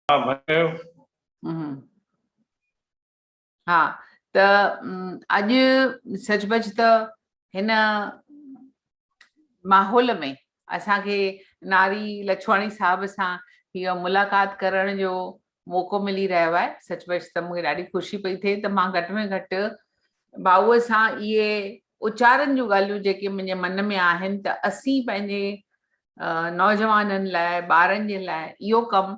ها ڀائي ڪيو. ها ته اڄ سچ پچ ته هن ماحول ۾ اسان کي ناري لڇواڻي صاحب سان هيء ملاقات ڪرڻ جو موقعو ملي رهيو آهي سچ پچ ته مونکي ڏاڍي خوشي پئي ٿئي ته مان گهٽ ۾ گهٽ ڀائوء سان اهي اچارن جون ڳالهيون جيڪي منهنجي من ۾ آهن ته اسين پنهنجي نوجوانن لاء ٻارن جي لاء اهو ڪم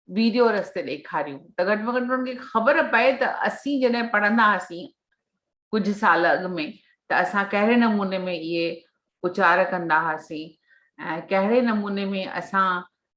ويڊيو رستي ڏيکاريون ته گهٽ ۾ گهٽ انهن کي خبر پئي ته اسين جڏهن پڙهندا هئاسين ڪجهه سال اڳ ۾ ته اسان ڪهڙي نموني ۾ اهي اچار ڪندا هئاسين ۽ ڪهڙي نموني ۾ اسان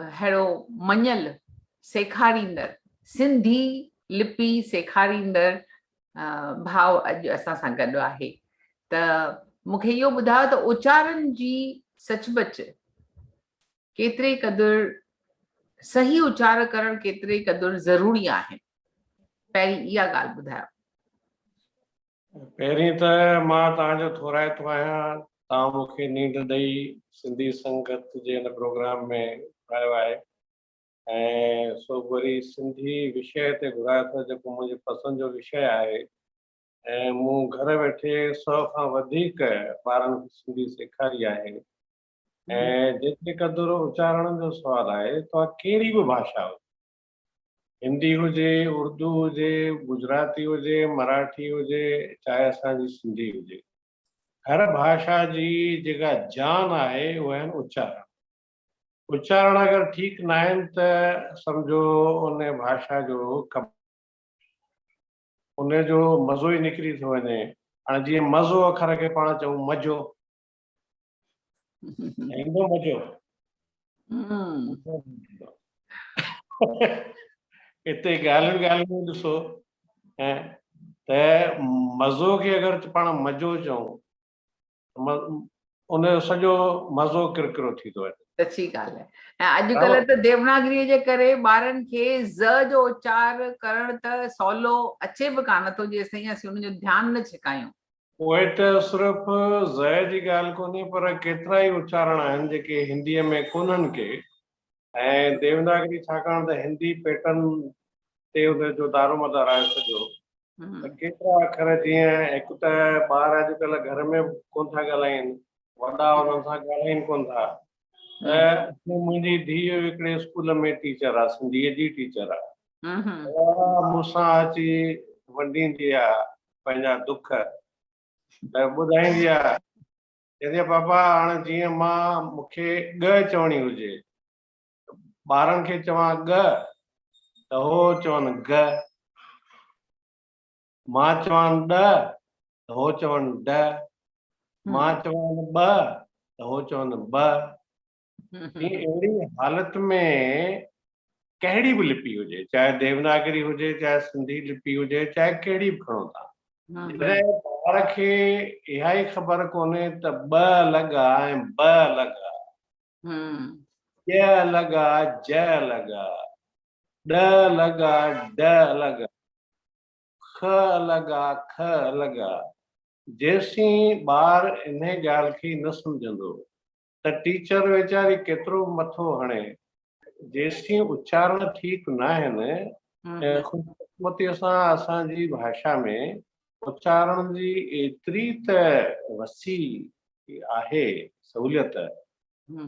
اهڙو مڃيل سيکاريندڙ، سنڌي لپي سيکاريندڙ ڀاء اڄ اسان سان گڏ آهي ته مون کي اهو ٻڌايو ته اچارن جي سچ بچ ڪيتري قدر صحيح اچار ڪرڻ ڪيتري قدر ضروري آهن پهرين اها ڳالهه ٻڌايو پهرين ته مان توهان جو ٿورائتو آهيان، توهان مون کي نينڊ ڏئي سنڌي سنگت جي هن پروگرام ۾ گهرايو آهي ۽ سو به وري سنڌي وشيه تي گهرايو اٿو جيڪو منهنجي پسند جو وشيه آهي ۽ مون گهر ويٺي سو کان وڌيڪ ٻارن کي سنڌي سيکاري آهي ۽ جيتري قدر اچارڻ جو سوال آهي توهان ڪهڙي به ڀاشا هجو هندي هجي، اردو هجي، گجراتي هجي، مراٺي هجي، چاهي اسان جي سنڌي هجي. هر ڀاشا جي جيڪا جان آهي اهي آهن اچارڻ. اچارڻ اگر ٺيڪ ناهن ته سمجهو ان ڀاشا جو ڪم ان جو مزو ئي نڪري ٿو وڃي. هاڻي جيئن مزو اکر کي پاڻ چئون مجو ايندو مزو اتي ڳالهين ڳالهين ۾ ڏسو ته مزو کي اگر پاڻ مزو چئون ان جو سڄو مزو ڪرڪرو ٿي ٿو وڃي سچي ڳالهه آهي ۽ اڄڪلهه ته ديوناگري جي ڪري ٻارن کي ز جو اچار ڪرڻ ته سولو اچي به ڪانه ٿو جيستائين اسين ان جو ڌيان نه ڇڪايون پوء ته صرف ضيء جي ڳالهه ڪونهي پر ڪيترا ئي اچارڻ آهن جيڪي هنديء ۾ ڪونهن ڪي ۽ ديوناگري ڇاڪاڻ ته هندي پيٽرن تي ان جو دارومدار آهي سڄو ته ڪيترا اکر جيئن هڪ ته ٻار اڄڪلهه گهر ۾ به ڪونه ٿا ڳالهائين وڏا انهن سان ڳالهائين ڪونه ٿا منهنجي ڌيء هڪڙي اسڪول ۾ ٽيچر آ سنڌي جي ٽيچر آ مون سان اچي ونڊيندي آ پنهنجا دک ته ٻڌائيندي آ چوندي آ پاپا هاڻ جيئن مان مون کي ڳه چوڻي هجي ٻارن کي چوان ڳه ته هو چون ڳه مان چوان ڏهه ته هو چون ڊهه، مان چوان ٻه ته هو چون ٻه. اهڙي حالت ۾ ڪهڙي به لپي هجي، چاهي ديوناگري هجي، چاهي سنڌي لپي هجي، چاهي ڪهڙي به کڻو ٿا، جڏهن ٻار کي اها ئي خبر ڪونهي ته ٻه الڳ آ ۽ ب الڳ آ، ڄ الڳ آ، ج الڳ آ، ڏ الڳ آ، ڊ الڳ آ، خ الڳ آ، کھ الڳ آ. جيسين ٻار انهي ڳالهه کي نه سمجهندو ته ٽيچر ويچاري ڪيترو به مٿو هڻي، جيسين اچارڻ ٺيڪ ناهن ۽ خوشقسمتيء سان اسان جي ڀاشا ۾ پهچائڻ جي ايتري ته وسيع آهي سهوليت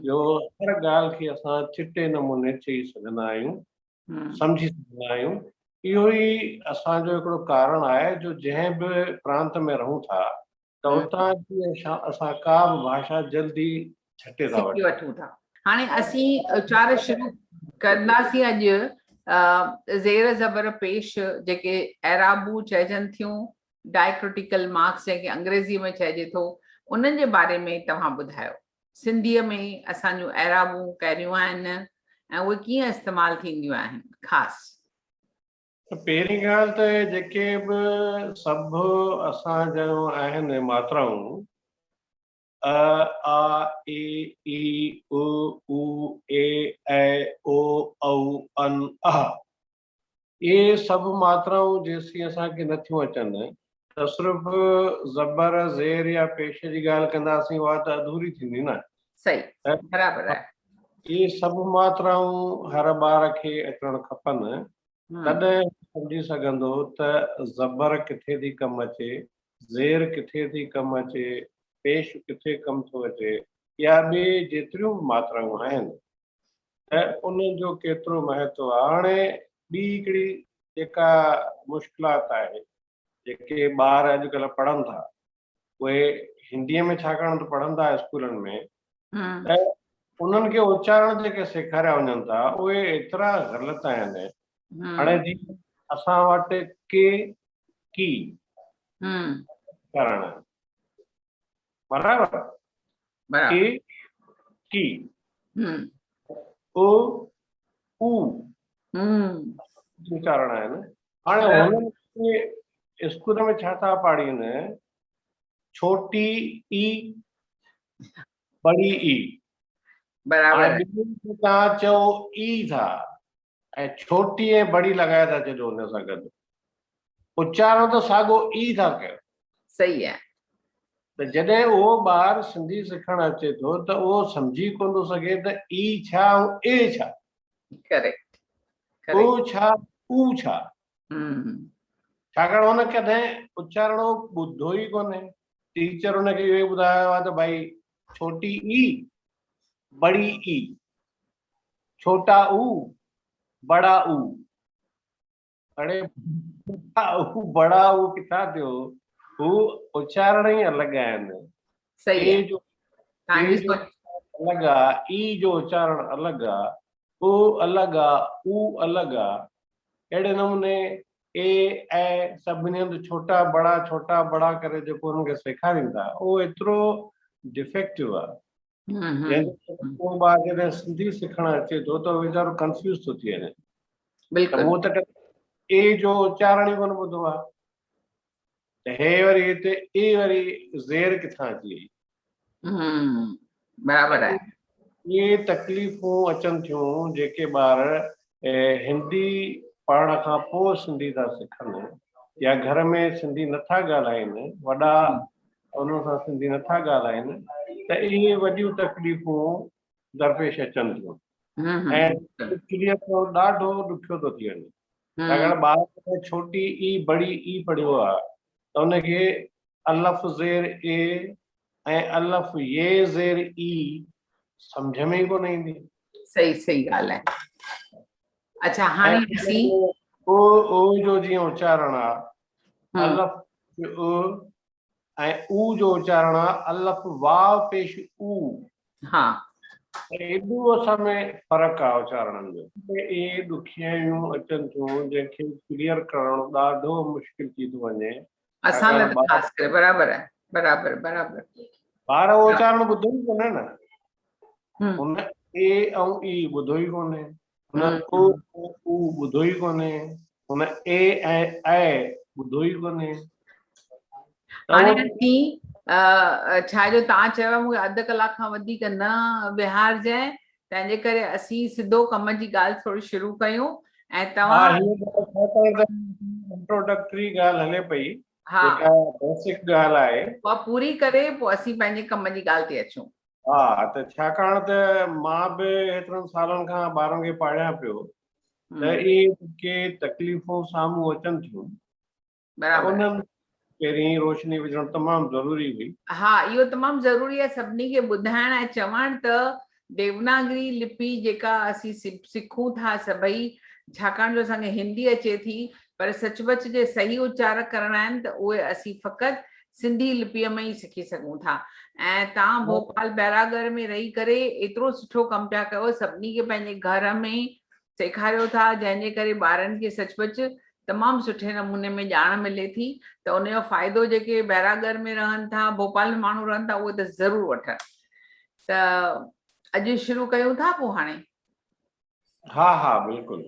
جو هر ڳالهه کي اسان چٽي نموني چئي سگهندا آهيون، سمجهي سگهندا آهيون. اهو ئي اسان جو هڪڙو ڪارڻ آهي جو جنهن به پرانت ۾ رهون ٿا ته اتان جي اسان ڪا به ڀاشا جلدي ڇٽي ٿا وٺون وٺون ٿا هاڻي اسين اچار شروع ڪنداسين اڄ زير زبر پيش جيڪي اعرابون چئجن ٿيون ڊائڪريٽيڪل مارڪس جنهن کي انگريزي ۾ چئجي ٿو انهن جي باري ۾ توهان ٻڌايو سنڌي ۾ اسان جون اعرابون ڪهڙيون آهن ۽ اهي ڪيئن استعمال ٿينديون آهن خاص پهرين ڳالهه ته جيڪي به سڀ اسان جون آهن ماترائون ء، آ، اي، اي، او، او، اي، اي، او، او، ان، اح. اهي سڀ ماترائون جيسين اسان کي نه ٿيون اچن ته صرف زبر، زير يا پيش جي ڳالهه ڪنداسين اها ته اڌوري ٿيندي نه. صحيح برابر آهي. اهي سڀ ماترائون هر ٻار کي اچڻ کپن تڏهن هو سمجهي سگهندو ته زبر ڪٿي ٿي ڪم اچي زير ڪٿي ٿي ڪم اچي، پيش ڪٿي ڪم ٿو اچي يا ٻي جيتريون به ماترائون آهن ته ان جو ڪيترو مهتو آهي. هاڻي ٻي هڪڙي جيڪا مشڪلات آهي، جيڪي ٻار اڄڪلهه پڙهن ٿا، اهي هنديء ۾ ڇاڪاڻ ته پڙهن ٿا اسڪولن ۾ ته انهن کي اچارڻ جيڪي سيکاريا وڃن ٿا، اهي ايترا غلط آهن هاڻي جي اسان وٽ ڪي ڪي ڪرڻ برابر ڪي ڪي او او چارڻ آهي نه هاڻي هن اسڪول ۾ ڇا ٿا پاڙين ڇوٽي اي بڙي اي برابر تان چو اي ٿا ۽ ڇوٽي ۽ بڙي لڳائي ٿا ڇڏيو ان سان گڏ اچارڻ ته ساڳو ئي ٿا ڪيو. صحيح آهي. ته جڏهن اهو ٻار سنڌي سکڻ اچي ٿو ته اهو سمجهي ڪونه ٿو سگهي ته ئي ڇا ۽ اي ڇا. ڪريڪٽ. او ڇا او ڇا. ڇاڪاڻ هن ڪڏهن اچارڻو ٻڌو ئي ڪونهي. ٽيچر هن کي اهو ئي ٻڌايو آهي ته ڀائي ڇوٽي ئي بڙي ئي. ڇوٽا او بڙا او اڙي ڇوٽا او بڙا او ڪٿان ٿيو هو اچارڻ ئي الڳ آهن صحيح جو الڳ آ اي جو اچارڻ الڳ آ او الڳ آ او الڳ آ اهڙي نموني اي اي سڀني هنڌ ڇوٽا بڙا ڇوٽا بڙا ڪري جيڪو هن کي سيکارين ٿا اهو ايترو ڊيفيڪٽو آ جنهن ڪري ڪو ٻار جڏهن سنڌي سکڻ اچي ٿو ته ويچارو ڪنفيوز ٿو ٿي وڃي بلڪل مون ته اي جو اچارڻ ئي ڪونه ٻڌو آهي ته هي وري هتي اي وري زير ڪٿان اچي وئي برابر آهي اهي تڪليفون اچن ٿيون جيڪي ٻار هندي پڙهڻ کان پوء سنڌي ٿا سکن يا گهر ۾ سنڌي نٿا ڳالهائين وڏا انهن سان سنڌي نٿا ڳالهائين ته اهي وڏيون تڪليفون درپيش اچن ٿيون ۽ اڪثريت جو ڏاڍو ڏکيو ٿو ٿي وڃي ڇاڪاڻ ٻار جڏهن ڇوٽي اي بڙي اي پڙهيو آهي ته ان کي الف زير اي ۽ الف يي زير اي سمجهه ۾ ئي ڪونه ايندي صحيح صحيح ڳالهه آهي اچا هاڻي اسين او او جو جيئن اچارڻ آهي الف او ۽ او جو اچارڻ آ الف واو پيش او ها ايڏو اسان ۾ فرق آ اچارڻن جو. اهي ڏکيائيون اچن ٿيون جنهن کي ڪليئر ڪرڻ ڏاڍو مشڪل ٿي ٿو وڃي اسان لاء ته خاص ڪري برابر آهي برابر برابر ٻار اهو اچارڻ ٻڌو ئي ڪونهي نه هن اي ۽ اي ٻڌو ئي ڪونهي هن او ۽ او ٻڌو ئي ڪونهي، هن اي ۽ اي ٻڌو ئي ڪونهي. هاڻي اسين ڇا جو تان چيو مون کي اڌ ڪلاڪ کان وڌيڪ نه ويهارجئين، تنهن جي ڪري اسين سڌو ڪم جي ڳالهه ٿوري شروع ڪيون ۽ توهان. ها هيء ڳالهه ڇا ته هڪ انٽروڊڪٽري ڳالهه هلي پئي، جيڪا بيسڪ ڳالهه آهي. اها پوري ڪري پوء اسين پنهنجي ڪم جي ڳالهه تي اچون. ها ته ڇاڪاڻ ته مان به هيترن سالن کان ٻارن کي پاڙهيان پيو ته اهي جيڪي تڪليفون سامهون اچن ٿيون انهن پهرين روشني وجهڻ تمام ضروري هئي ها اهو تمام ضروري آهي سڀني کي ٻڌائڻ ۽ چوڻ ته ديوناگري لپي جيڪا اسين سکون ٿا سڀئي ڇاڪاڻ جو اسان کي هندي اچي ٿي پر سچ پچ جي صحيح اچار ڪرڻ آهن ته اهي اسين فقط سنڌي لپيء ۾ ئي سکي سگهون ٿا ۽ توهان ڀوپال بئرا ڳڙهه ۾ رهي ڪري ايترو سٺو ڪم پيا ڪيو سڀني کي پنهنجي گهر ۾ سيکاريو ٿا جنهن جي ڪري ٻارن کي سچ پچ تمام سٺي نموني ۾ ڄاڻ ملي ٿي ته ان جو فائدو جيڪي بئرا ڳڙهه ۾ رهن ٿا ڀوپال ۾ ماڻهو رهن ٿا اهي ته ضرور وٺن ته اڄ شروع ڪيون ٿا پوء هاڻي ها ها بلڪل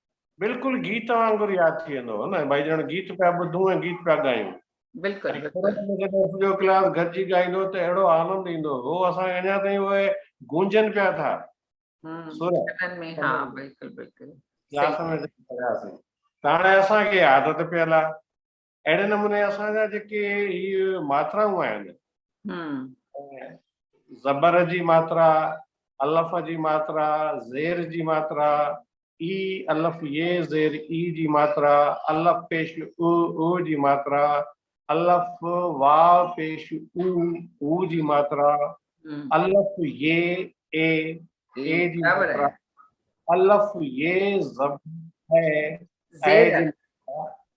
بلڪل گيت وانگر ياد ٿي ويندو هو نه ڀائي ڄڻ گيت پيا ٻڌون ۽ گيت پيا ڳايون بلڪل سڄو ڪلاس گڏجي ڳائيندو ته اهڙو آنند ايندو هو اسان کي اڃا تائين اهي گونجن پيا ٿا ته هاڻي اسان کي عادت پيل آهي اهڙي نموني اسان جا جيڪي هي ماترائون آهن زبر جي ماترا الف جي ماترا زير جي ماترا اي الف يه زير اي جي ماترا الف پيش او او جي ماترا الف وا پيش او او جي ماترا الف يه اي اي جي ماترا الف يه زب اي اي جي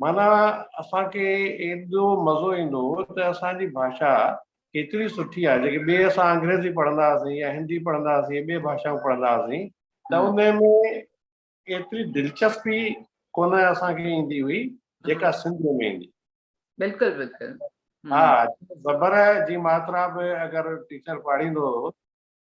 معنيٰ اسان کي ايڏو مزو ايندو هو ته اسان جي ڀاشا ڪيتري سٺي آهي، جيڪي ٻئي اسان انگريزي پڙهندا هئاسين يا هندي پڙهندا هئاسين، ٻئي ڀاشائون پڙهندا هئاسين ته ان ۾ ايتري دلچسپي ڪونه اسان کي ايندي هئي جيڪا سنڌيء ۾ ايندي. بلڪل بلڪل. ها زبر جي ماترا به اگر ٽيچر پاڙهيندو هو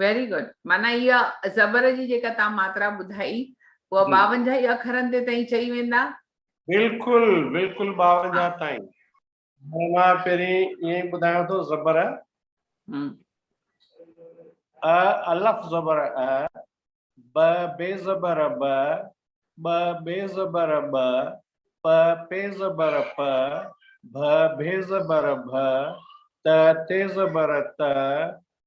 ويري گڊ معنيٰ اها زبر جي جيڪا تان ماترا ٻڌائي اها ٻاونجاهه ئي اکرن تي تائين چئي ويندا؟ بلڪل بلڪل ٻاونجاهه تائين هاڻي مان پهرين ائين ئي ٻڌايان ٿو زبر ا الف زبر ا ب بي زبر ب ٻ بي زبر ٻ پ پي زبر پ ڀ ڀي زبر ڀ ت تي زبر ت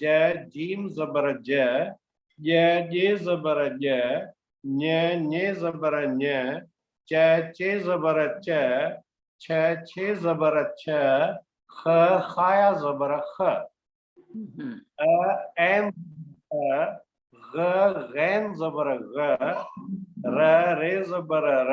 ج، جيم زبر ج، ڄ، ڄي زبر ڄ، ڃ، ڃي زبر ڃ، چ، چي زبر چ، ڇ، ڇي زبر ڇ، خ، خايا زبر خ، ء، عين زبر ء، غ، غين زبر غ، ر، ري زبر ر،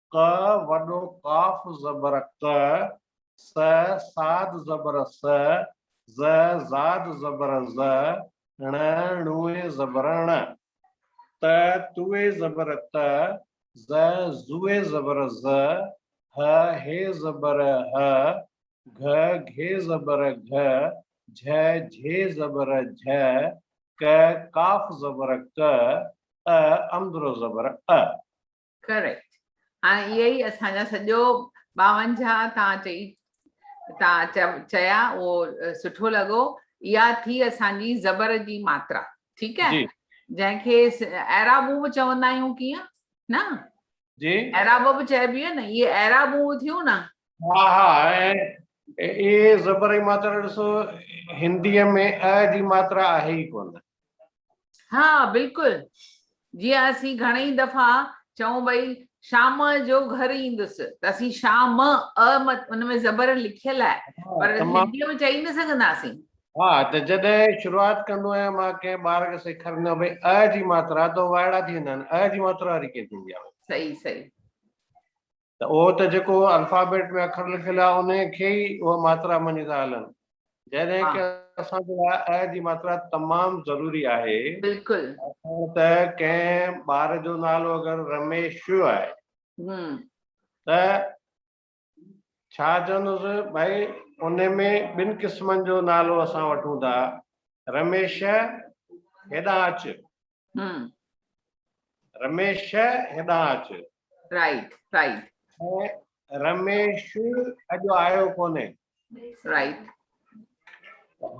ڪ وڏو قاف زبر ڪ س صاد زبر س ز زاد زبر ز ڻ ڻوئي زبر ڻ ت توئي زبر ت ز زوئي زبر ز ه هي زبر ه گھ گھي زبر گھ جھ جھي زبر جھ ڪ قاف زبر ڪ ء امدرو زبر ء. Correct هاڻي اهي ئي اسان جا سڄو ٻاونجاهه تان چئي تان چيا اهو سٺو لڳو اها ٿي اسان جي زبر جي ماترا ٺيڪ آهي جنهن کي اعرابون به چوندا آهيون ڪيئن نه جي اعراب به چئبي آهي نه اهي اعرابون ٿيون نه ها ها اي زبر جي ماترا ڏسو هندي ۾ ا جي ماترا آهي ئي ڪونه ها بلڪل جيئن اسين گهڻئي دفعا چئون ڀئي شام جو گهر ايندس ته اسين شام م ا ان ۾ زبر لکيل آهي پر هندي ۾ چئي نه سگهنداسين ها ته جڏهن شروعات ڪندو آهيان مان ڪنهن ٻار کي سيکاريندو آهيان ڀئي ا جي ماترا ته وائڙا ٿي ويندا آهن ا جي ماترا واري ڪيئن ٿيندي آهي صحيح صحيح ته اهو ته جيڪو الفابيٽ ۾ اکر لکيل آهي انهي کي ئي اهي ماترا مڃي ٿا هلن جڏهن ڪه اسان جي لاء ء جي ماترا تمام ضروري آهي بلڪل ڏسو ته ڪنهن ٻار جو نالو اگر رميش آهي ته ڇا چوندس ڀائي انهي ۾ ٻن قسمن جو نالو اسان وٺون ٿا رميش هيڏانهن اچ ھمم. رميش ھيڏانھن اچ. Right right. ۽ رميش اڄ آيو ڪونھي. رائيٽ.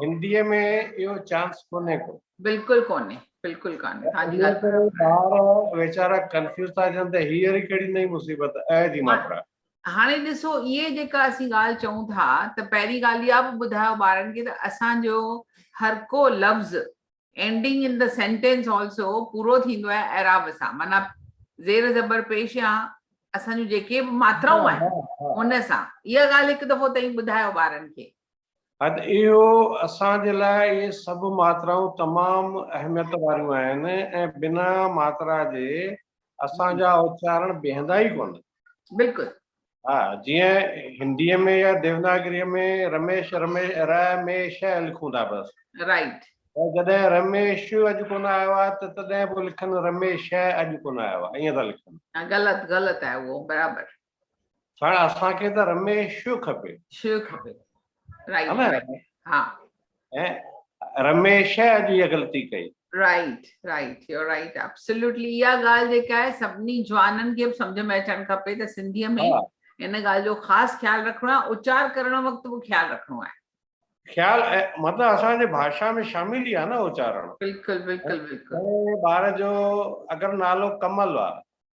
ھنديء ۾ اھو چانس ڪونھي ڪو. بلڪل ڪونھي بلڪل ڪانھي ھا جي ڳالھ ٻار ويچارا ڪنفيوز ٿا ٿين ته ھيء وري ڪھڙي نئين مصيبت ء جي ماترا. ھاڻي ڏسو اھي جيڪا اسين ڳالھ چئون ٿا ته پھرين ڳالھ اھا به ٻڌايو ٻارن کي ته اسان جو ھر ڪو لفظ Ending in the sentence also پورو ٿيندو آهي اعراب سان معنيٰ زير زبر پيش يا اسان جون جيڪي به ماترائون آهن ان سان اها ڳالهه هڪ دفعو تائين ٻڌايو ٻارن کي حد اهو اسان جي لاء اهي سڀ ماترائون تمام اهميت واريون آهن ۽ بنا ماترا جي اسان جا اچارڻ بيهندا ئي ڪونه. بلڪل. ها جيئن هندي ۾ يا ديوناگري ۾ رميش رميش ر مي ش لکون ٿا بس. رائيٽ. ۽ جڏهن رميش اڄ ڪونه آيو آهي ته تڏهن به لکن رميش اڄ ڪونه آيو آهي ائين ٿا لکن. غلط غلط آهي اهو برابر. ساڻ اسان کي ته رميش کپي شيو کپي رائيٽ ها ۽ رميش جي غلطي ڪئي right right you right absolutely يا گال جيڪا آهي سڀني جوانن کي سمجھ ۾ اچڻ کپي ته سنڌي ۾ ان گال جو خاص خيال رکڻو آهي اچار ڪرڻ وقت به خيال رکڻو آهي خيال مطلب اسان جي بھاشا ۾ شامل ئي آ نه اچارڻ بلڪل بلڪل بلڪل ٻار جو اگر نالو ڪمل آ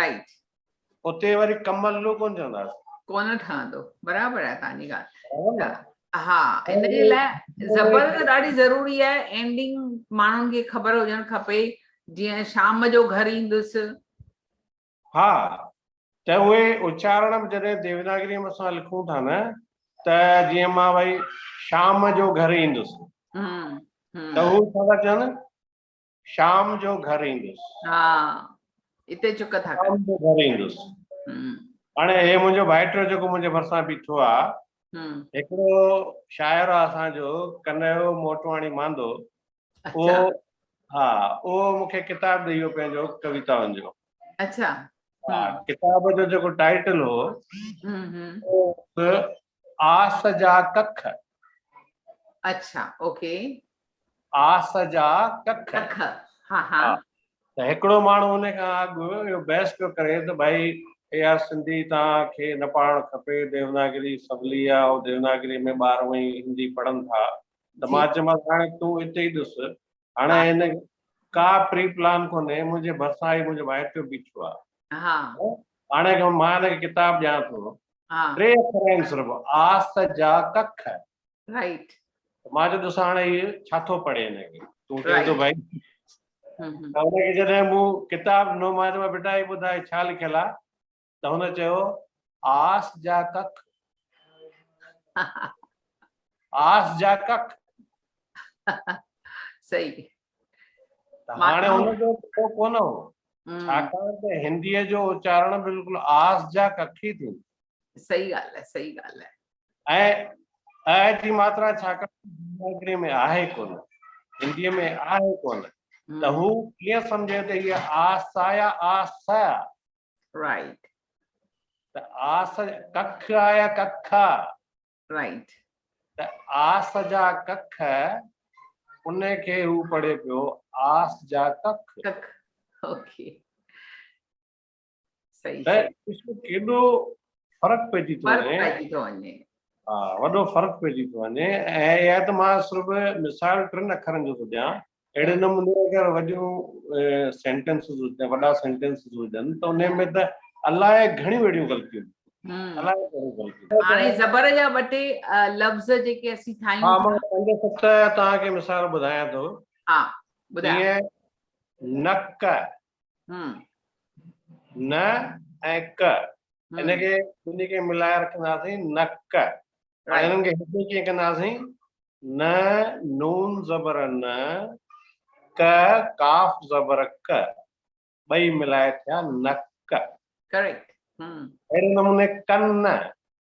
رائٽ اتي وري ڪمل لو ڪون چونداس ڪون ٺهندو برابر آهي تانجي ڳالهه ها ان جي لاء زبر ته ڏاڍي ضروري آهي اينڊنگ ماڻهن کي خبر هجڻ کپي جيئن شام جو گهر ايندس ها ته اهي اچارڻ به جڏهن ديوناگري ۾ اسان لکون ٿا نه ته جيئن مان وئي شام جو گهر ايندس ته هو ڇا چون شام جو گهر ايندس ها اتي چڪ ٿا شام جو گهر ايندس هاڻي هي منهنجو ڀائٽو جيڪو منهنجي ڀرسان بيٺو آ هڪڙو شاعر آ اسان جو ڪنهيو موٽواڻي ماندو اهو ها اهو مونکي ڪتاب ڏيئي ويو پنهنجو ڪويتائن جو اچھا ڪتاب جو جيڪو ٽائيٽل هو آس جا ڪک اچھا اوڪي آس جا ڪک. ڪک ها ها. ته هڪڙو ماڻهو ان کان اڳ اهو بحث پيو ڪري ته ڀائي يار سنڌي توهان کي نه پڙهڻ کپي ديوناگري سولي آ او ديوناگري ۾ ٻار هونئن ئي هندي پڙهن ٿا ته مان چيومانس هاڻي تون اتي ئي ڏس هاڻي هن ڪا پري پلان ڪونهي منهنجي ڀرسان هي منهنجو ڀائيٽيو بيٺو آ ها هاڻي مان هن کي ڪتاب ڏيان ٿو ٽي اکر آهن صرف آس جا ڪک رائٽ مان چيو دوست هاڻي هي ڇا ٿو پڙهي هن کي تون چئين ٿو ڀائي ته هن کي جڏهن مون ڪتاب ڏنو مان چيو بيٽا هي ٻڌاء ڇا لکيل آهي ته هن چيو آس جا ڪک آس جا ڪک صحيح هاڻي هن جو ڪو ڪونه هو ڇاڪاڻ ته هنديء جو اچارڻ بلڪل آس جا ڪک ئي ٿيندو صحيح ڳالهه آهي صحيح ڳالهه آهي ۽ ا جي ماترا ڇاڪاڻ ڊيماگري ۾ آهي ڪونه هندي ۾ آهي ڪونه ته هو ڪيئن سمجهي ته هي آ سا يا آ س آ رائٽ ته آ س ڪک آ يا ڪک آ رائٽ ته آ س جا ڪک ان کي هو پڙهي پيو آ س جا ڪک ڪک اوڪي ڏسو ڪيڏو فرق پئجي ٿو وڃي ها وڏو فرق پئجي ٿو وڃي ۽ اها ته مان صرف مثال ٽن اکرن جو ٿو ڏيان اهڙي نموني اگر وڏيون سينٽينسز هجن وڏا سينٽينسز هجن ته ان ۾ ته الائي گهڻيون اهڙيون غلطيون زبر جا ٻه ٽي لفظ جيڪي اسين ٺاهيون پنج ست توهان کي مثال ٻڌايان ٿو ها ٻڌايو نڪ ن ۽ ڪ ان کي ٻنهي کي ملائي رکنداسين نڪ ۽ انهن کي هڪ ڪيئن ڪنداسين ن نون زبر ن ڪ قاف زبر ڪ ٻئي ملائي ٿيا نڪ ڪريڪٽ اهڙي نموني ڪن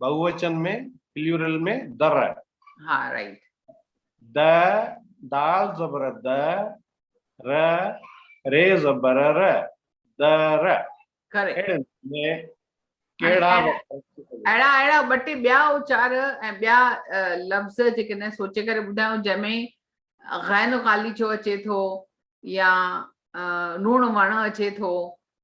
بهووچن ۾ پليورل ۾ در. ها رائيٽ. د دال زبر د ر ري زبر ر در. ڪريڪٽ. اهڙي نموني ۾ ڪهڙا وکر. اهڙا اهڙا ٻه ٽي ٻيا اچار ۽ ٻيا لفظ جيڪي نه سوچي ڪري ٻڌايو جنهن ۾ غين غاليچو اچي ٿو يا نوڻ وڻ اچي ٿو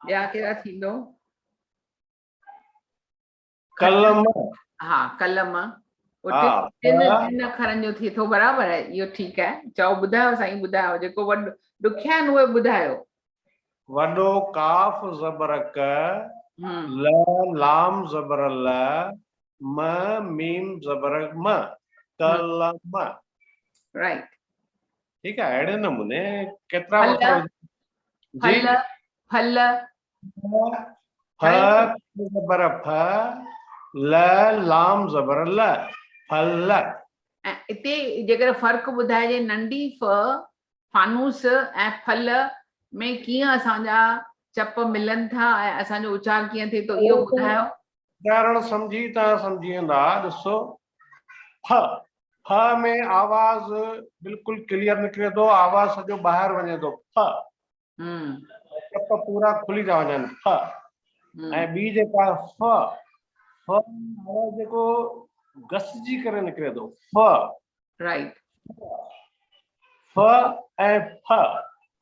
ٻيا ڪهڙا ٿيندو قلم ها قلم ٽن اکرن جو ٿئي ٿو برابر آهي اهو ٺيڪ آهي چئو ٻڌايو سائين ٻڌايو جيڪو وڏو ڏکيا آهن اهي ٻڌايو وڏو ڪاف زبر ڪ ل لام زبر ل م ميم زبر م ڪلم رائٽ ٺيڪ آهي اهڙي نموني ڪيترا وکر ڦل ڦل ف زبر ف ل لام زبر ل ڦل اتي جيڪڏهن فرق ٻڌائجي ننڍي ف فانوس ۽ ڦل ۾ ڪيئن اسان جا چپ ملن ٿا ۽ اسان جو اچار ڪيئن ٿئي ٿو اهو ٻڌايو اچارڻ سمجهي تان سمجهي ويندا ڏسو ڦ، ڦ ۾ آواز بلڪل ڪليئر نڪري ٿو، آواز سڄو ٻاهر وڃي ٿو، ڦ، ٽپ پورا کلي ٿا وڃن، ڦ، ۽ ٻي جيڪا ف، ف آواز جيڪو گسجي ڪري نڪري ٿو، ف، رائيٽ، ف ۽ ڦ،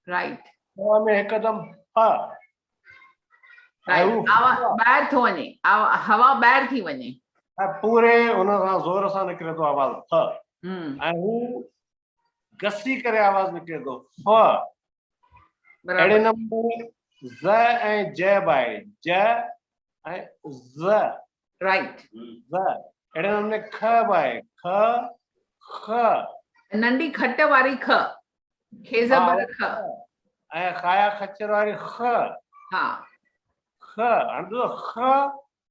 رائيٽ، ف ۾ هڪدم ڦ، ٻاهر ٿو وڃي هوا ٻاهر ٿي وڃي پوري ان سان زور سان نڪري ٿو آواز ف ۽ هو گسي ڪري آواز نڪري ٿو ف اهڙي نمبر ز ۽ ج بائي ج ۽ ز Right. ز، اهڙي نموني کء به آهي، کء، خ. ننڍي کٽ واري کء، کي زبر کء. ۽ خايا خچر واري خ. ها. خ، هاڻي ڏسو خ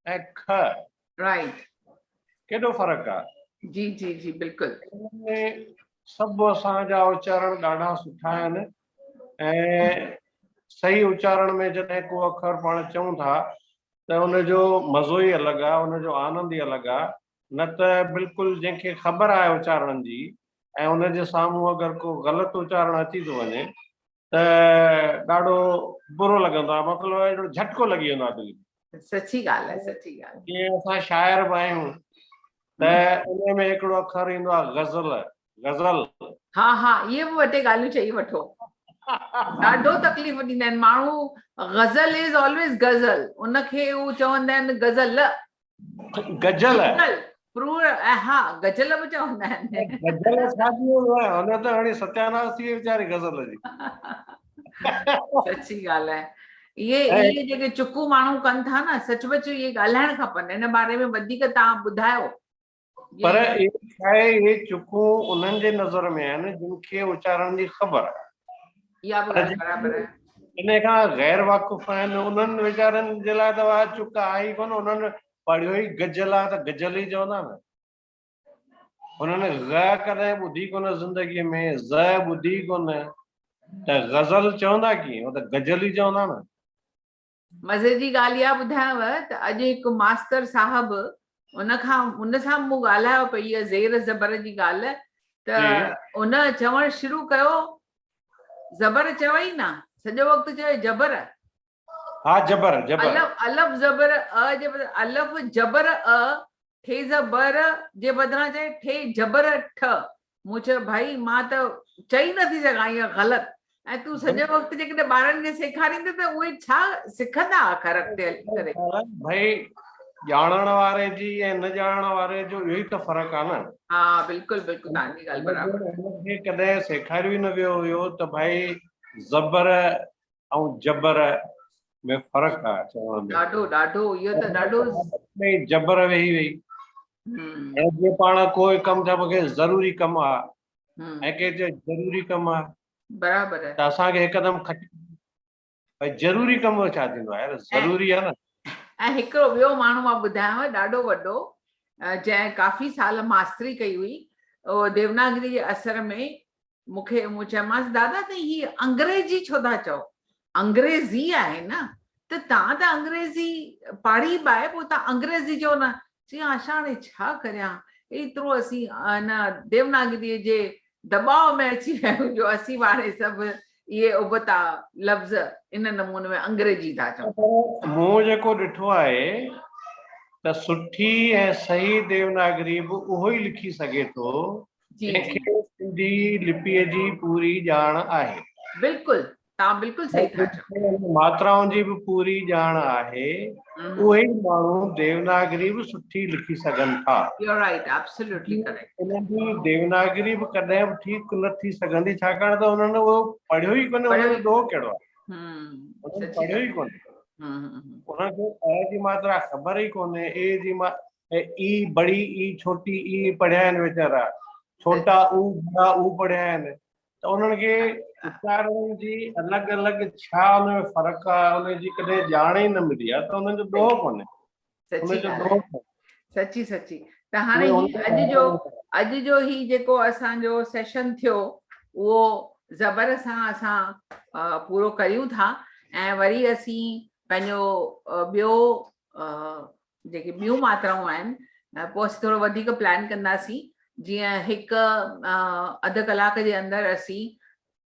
۽ کء. Right. ڪيڏو فرق آ. جي جي جي بلڪل. سڀ اسان جا اچارڻ ڏاڍا سٺا آهن ۽ صحيح اچارڻ ۾ جڏهن ڪو اکر پاڻ چئون ٿا ته ان جو مزو ئي الڳ آ، ان جو آنند ئي الڳ آ، نه ته بلڪل جنهن کي خبر آهي اچارڻ جي ۽ ان جي سامهون اگر ڪو غلط اچارڻ اچي ٿو وڃي ته ڏاڍو برو لڳندو آهي، مطلب اهڙو جهٽڪو لڳي ويندو آهي دل کي. سچي ڳالهه آهي، سچي ڳالهه آهي. جيئن اسان شاعر به آهيون ته انهي ۾ هڪڙو اکر ايندو آهي غزل، غزل. ها ها اهي به ٻه ٽي ڳالهيون چئي وٺو ڏاڍو تڪليف ڏيندا آهن ماڻهو غزل از آلويز غزل ان کي هو چوندا آهن غزل گجل گجل پرور ۽ ها گجل به چوندا آهن گجل شادي هن ته هاڻي ستياناس ٿي وئي ويچاري غزل جي سچي ڳالهه آهي اهي اهي جيڪي چڪون ماڻهو ڪن ٿا نه سچ پچ اهي ڳالهائڻ کپن ان باري ۾ وڌيڪ تان ٻڌايو پر اهي شايد اهي چڪون انهن جي نظر ۾ آهن جن کي اچارڻ جي خبر آهي اها به ڳالهه برابر آهي ان کان غير واقف آهن انهن ويچارن جي لاء ته اها چڪ آهي ئي ڪونه انهن پڙهيو ئي گجل آهي ته گجل ئي چوندا نه انهن غ ڪڏهن ٻڌي ڪونه زندگي ۾ ز ٻڌي ڪونه ته غزل چوندا ڪيئن هو ته گجل ئي چوندا نه مزي جي ڳالهه اها ٻڌايانو ته اڄ هڪ ماستر صاحب ان کان ان سان مون ڳالهايو پئي اها زير زبر جي ڳالهه ته جي ان چوڻ شروع ڪيو زبر چوئي نه سڄو وقت چوئي جبر ها جبر جبر الف الف زبر ا جي بدران الف جبر ا ٺي زبر جي بدران چوئي ٺي جبر ٺ مون چيو ڀائي مان ته چئي نه ٿي سگهان اهو غلط ۽ تون سڄو وقت جيڪڏهن ٻارن کي سيکاريندي ته اهي ڇا سکندا آخر اڳتي هلي ڪري ڀائي ڄاڻڻ واري جي ۽ نه ڄاڻڻ واري جو اهو ئي ته فرق آهي نه ها بلڪل بلڪل توهان جي ڳالهه برابر آهي ڪڏهن سيکاريو ئي نه ويو هيو ته ڀائي زبر ۽ جبر ۾ فرق آهي چوڻ ۾ ڏاڍو ڏاڍو اهو ته ڏاڍو جبر ويهي وئي ۽ جي پاڻ ڪو ڪم چا مونکي ضروري ڪم آ ۽ ڪي چي ضروري ڪم آ برابر ته اسان کي هڪدم کٽ ڀائی ضروري ڪم ڇا ٿيندو آهي ضروري آ نه ۽ هڪڙو ٻيو ماڻهو مان ٻڌايو ڏاڍو وڏو جنهن ڪافي سال ماستري ڪئي هئي او ديوناگري جي اثر ۾ مون کي مون چيومانس دادا ته هي انگريزي ڇو ٿا چئو انگريزي آهي نه ته توهان ته انگريزي پاڙهي به آهي پوء توهان انگريزي چئو نه چيائين آشا هاڻي ڇا ڪريان ايترو اسين هن ديوناگري جي دٻاء ۾ اچي ويا آهيون جو اسين به هاڻي سڀ اهي ابتا لفظ ان نموني ۾ انگريزي ٿا چئون. پر مون جيڪو ڏٺو آهي ته سٺي ۽ صحيح ديوناگري به اهو ئي لکي سگهي ٿو جي کي سنڌي لپيء جي پوري ڄاڻ آهي بلڪل تان بلڪل صحيح ٿا چئو ماترائن جي به پوري ڄاڻ آهي اهي ماڻهو ديوناگري به سٺي لکي سگهن ٿا يو رائٽ ابسوليوٽلي ڪريڪٽ انهن جي ديوناگري به ڪڏهن به ٺيڪ نه ٿي سگهندي ڇاڪاڻ ته انهن اهو پڙهيو ئي ڪونه انهن جو ڏوهه ڪهڙو آهي پڙهيو ئي ڪونه انهن کي اي جي ماترا خبر ئي ڪونهي اي جي ماترا اي اي بڙي اي ڇوٽي اي پڙهيا آهن ويچارا ڇوٽا او بڙا او پڙهيا آهن ته انهن کي اچارن جي الڳ الڳ ڇا ان ۾ فرق آهي ان جي ڪڏهن ڄاڻ ئي نه ملي آهي ته انهن جو ڏوهه ڪونهي سچي ڳالهه سچي سچي ته هاڻي هي اڄ جو اڄ جو هي جيڪو اسان جو سيشن ٿيو اهو زبر سان اسان پورو ڪريون ٿا ۽ وري اسين پنهنجو ٻيو جيڪي ٻيون ماترائون آهن پوء اسين ٿورو وڌيڪ پلان ڪنداسين جيئن هڪ اڌ ڪلاڪ جي اندر اسين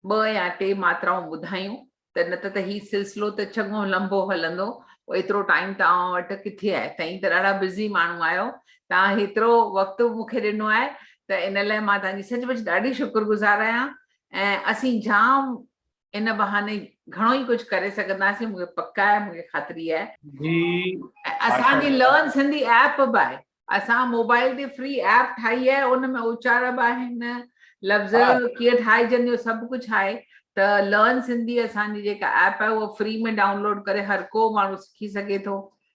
ٻه يا ٽي ماترائون ٻڌايون ته نه ته ته هي سلسلو ته چڱو لنبو هلندو ايترو ٽائيم توهان وٽ ڪٿي آهي تائين ته ڏاڍا بزي ماڻهو آهيو توهان هيترو وقت مون کي ڏنو آهي ته ان لاء مان توهان جي سچ پچ ڏاڍي شڪر گذار آهيان ۽ اسين جام ان بهاني گهڻو ئي ڪجهه ڪري سگهنداسين مون کي پڪ آهي مون کي خاطري آهي جي اسان جي لرن سنڌي ايپ به آهي اسان موبائل تي فري ايپ ٺاهي آهي ان ۾ اچار به آهن لفظ ڪيئن ٺاهجن جو سڀ ڪجهه آهي ته لرن سنڌي اسان جي جيڪا ايپ آهي اها فري ۾ ڊائونلوڊ ڪري هر ڪو ماڻهو سکي سگهي ٿو